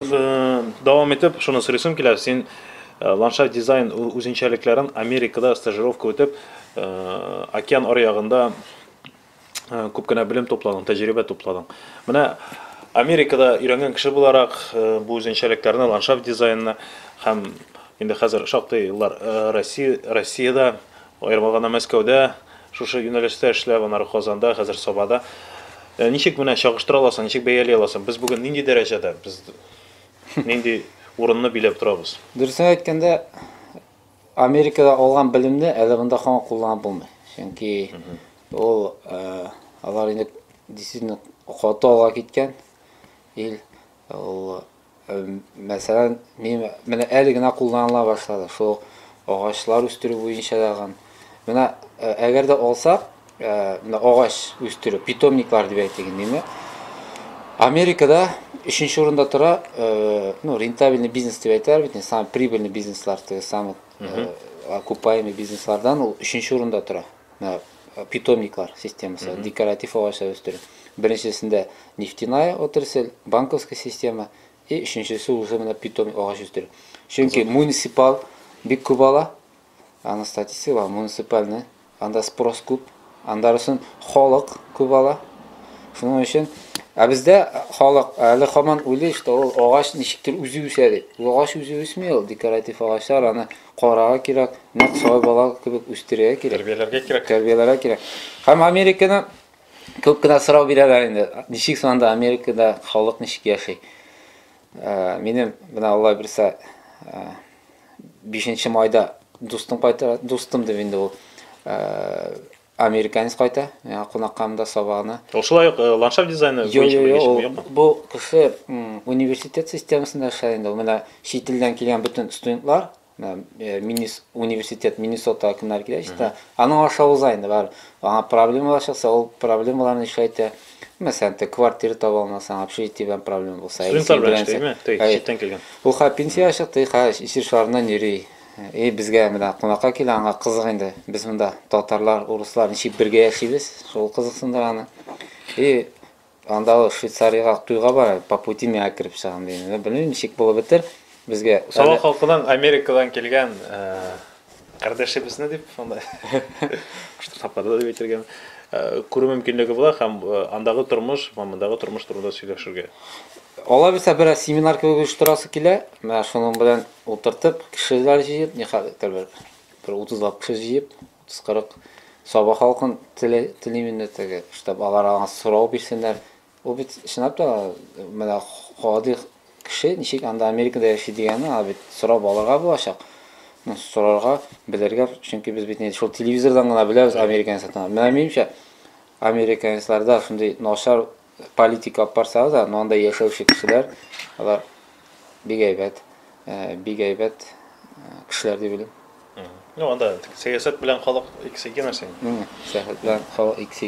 Дәвам итеп, шуны сорыйсым килә, син ландшафт дизайн үзенчәлекләрен Америкада стажировка үтеп, океан аръягында күп кенә белем тупладың, тәҗрибә тупладың. Менә Америкада өйрәнгән кеше буларак, бу үзенчәлекләрне, ландшафт дизайнны һәм инде хәзер шактый еллар Россия, Россиядә Аерма гына Мәскәүдә шушы юнәлештә эшләп, аннары Казанда, хәзер Сабада. Э, ничек менә чагыштыра аласың, ничек бәяли аласың? Без бүген нинди дәрәҗәдә, без нинди урынны биләп торабыз? Дөресен әйткәндә, Америкада алган белемне әле монда һаман кулланып булмый. Чөнки ул э, алар инде действительно каты алга киткән ил. Ул Мәсәлән, мин менә әле генә кулланыла башлады шул агачлар үстерү буенча дагын. Менә э, әгәр дә алсак, э, менә агач үстерү, питомниклар дип әйтик инде. Америкада өченче урында тора, э, ну, рентабельный бизнес дип әйтәр бит, самый прибыльный бизнеслар, теге самый окупаемый бизнеслардан ул өченче урында тора. питомниклар системасы, mm -hmm. декоратив агачлар үстерү. Беренчесендә нефтяная отрасль, банковская система, и өченчесе уже менә питомник агач үстерү. Чөнки муниципал бик күп ала, аны статистика бар, муниципальный, анда спрос күп, анда өчен халык күп ала. Шуның өчен Ә бездә халык әле хаман уйлый, что ул агач ничектер үзе үсә дип. Ул агач үзе үсми ул, декоратив агачлар аны Карарга кирәк, нәкъ шулай бала кебек үстерергә кирәк. Тәрбияләргә кирәк. Тәрбияләргә кирәк. Һәм Американы күп кенә сорау бирәләр инде. Ничек соң анда Америкада халык ничек яши? Ә, минем менә Алла бирсә, ә, 5 майда дустым кайтыр, дустым дип инде ул, ә, Американец кайта, миңа кунакка монда сабагына. Ул шулай ук э, ландшафт дизайны Йо, буенча йо, йо, белгеч ул, юкмы? бу кеше м, университет системасында эшләр инде. Ул менә чит илдән килгән бөтен студентлар, менә, э, Миннес- университет Миннесота кемнәр килә чиста, аның аша уза инде бар. Аңа проблемалар чыкса, ул проблемаларны эшли әйтә. Мәсәлән, те квартира таба алмасаң, общежитие белән проблема булса, әйе, Студентлар син белән белән эшли, сәк- әйе, читтән килгән. Ул хәзер пенсиягә чыкты, и хәзер исершарыннан йөри. И безгә менә кунакка килә, аңа кызык инде. Без монда татарлар, урыслар ничек бергә яшибез, шул кызыксындыра аны. И анда ул Швейцариягә туйга бара, по пути миңа кереп чыгам дигән. Менә белмим ничек булып бетер. Безгә Сала әле- халкының Америкадан килгән э, кардәшебезне дип анда кушты тапады дип әйтергәме, э, күрү мөмкинлеге була һәм э, андагы тормыш һәм мондагы тормыш турында сөйләшергә. Алай булса берәр семинар кебек оештырасы килә. Менә шуның белән Утыртып, кешеләр җыеп, никадәр бер, бер утызлап кеше җыеп, утыз-кырык Саба халкын теле, телим инде теге, штаб алар аңа сорау бирсеннәр. Ул бит, чынлап та, менә гади кеше ничек анда Америкада яши дигәнне аңа бит сорап алырга булачак. Ну, сорарга, белергә, чөнки без бит инде шул телевизордан гына беләбез американецлардан. Менә минемчә, американецларда шундый начар политика алып барсагыз да но анда яшәүче кешеләр алар бик әйбәт э, бик әйбәт э, кешеләр дип уйлыйм Ну, анда сәясәт белән халык икесе икенәрсә инде. сәясәт белән халык икесе